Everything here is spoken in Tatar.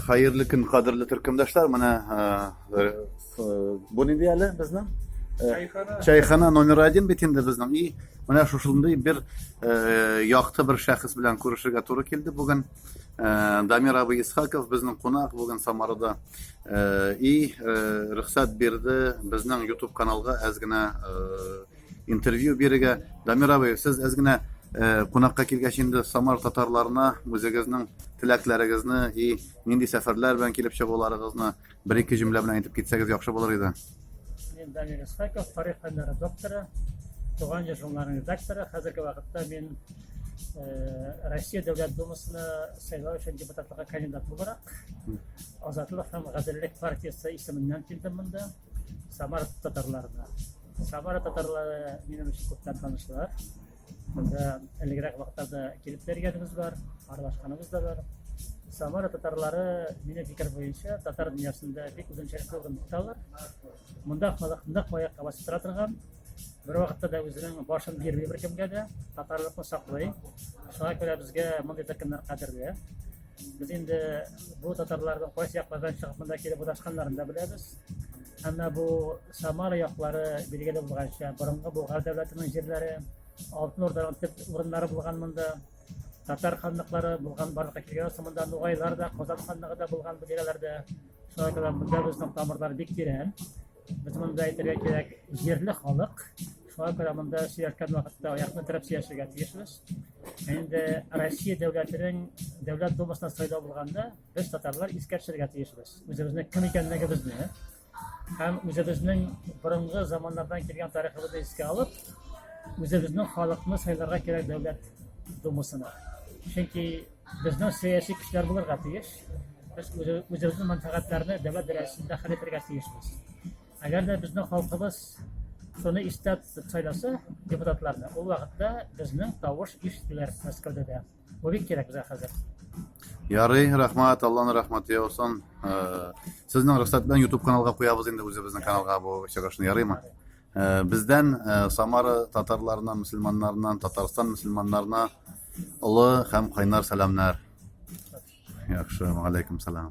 Хәерле көн, кадерле төркемдәшләр. Менә бу нинди әле безнең? Чайхана. Чайхана номер 1 бит инде безнең. И, менә шушындый бер якты бер шәхес белән күрешергә туры килде бүген. Дамир абый Исхаков безнең кунак бүген Самарада. И, рөхсәт бирде безнең YouTube каналга әз генә Интервью бирергә Дамир абый, сез әз генә э, кунакка килгәч инде Самар татарларына үзегезнең теләкләрегезне и нинди сәфәрләр белән килеп чыгуларыгызны бер-ике җөмлә белән әйтеп китсәгез яхшы булыр иде. Мин Дамир Исхаков, тарих фәннәре докторы, туган җир журналының редакторы. Хәзерге вакытта мин э, Россия Дәүләт Думасына сайлау өчен депутатлыкка кандидат буларак Азатлык һәм гаделлек партиясе исеменнән килдем монда. Самара татарларына. Самара татарлары минем өчен күптән танышлар. Монда әлегрәк вакытта килеп тергәнебез бар, аралашканыбыз да бар. Самара татарлары мине фикер буенча татар дөньясында бик үзенчәлекле урын тоталар. Монда халык нык аякка басып тора торган, бер вакытта да үзенең башын бирми беркемгә дә, татарлыкны саклый. Шуңа күрә безгә мондый төркемнәр кадерле. Без инде бу татарларның кайсы яклардан чыгып монда килеп урнашканнарын да беләбез. Әмма бу Самара яклары билгеле булганча, борынгы Болгар дәүләтенең җирләре, Алтын Урданың төп урыннары булган монда, татар ханлыклары булган барлыкка килгән соң монда Нугайлар да, Казан ханлыгы да булган бу тирәләрдә. Шулай да монда безнең тамырлар бик тирән. Без монда әйтергә кирәк, җирле халык. Шуңа күрә монда сөяркән вакытта аякны терәп сөяшергә тиешбез. Инде Россия дәүләтенең дәүләт думасына сайлау булганда, без татарлар искә төшерергә тиешбез. Үзебезнең кем икәнлегебезне һәм үзебезнең борынгы заманнардан килгән тарихыбызны искә алып, үзебезнең халыкны сайларга кирәк дәүләт думасына. Чөнки Безнең сәяси көчләр булырга тиеш. Без үзебезнең мәнфәгатьләрне дәүләт дәрәҗәсендә хәл итәргә тиешбез. Әгәр дә безнең халкыбыз шуны истә тотып сайласа депутатларны, ул вакытта безнең тавыш ишетелер Мәскәүдә дә. Бу бик кирәк безгә хәзер. Ярый, рәхмәт, Алланың рәхмәте яусын. Э, Сезнең рөхсәт белән YouTube каналга куябыз инде үзебезнең каналга бу чыгышны, ярыймы? Бездән Самара татарларына, мөселманнарына, Татарстан мөселманнарына олы һәм кайнар сәламнәр. Яхшы, алейкум салам.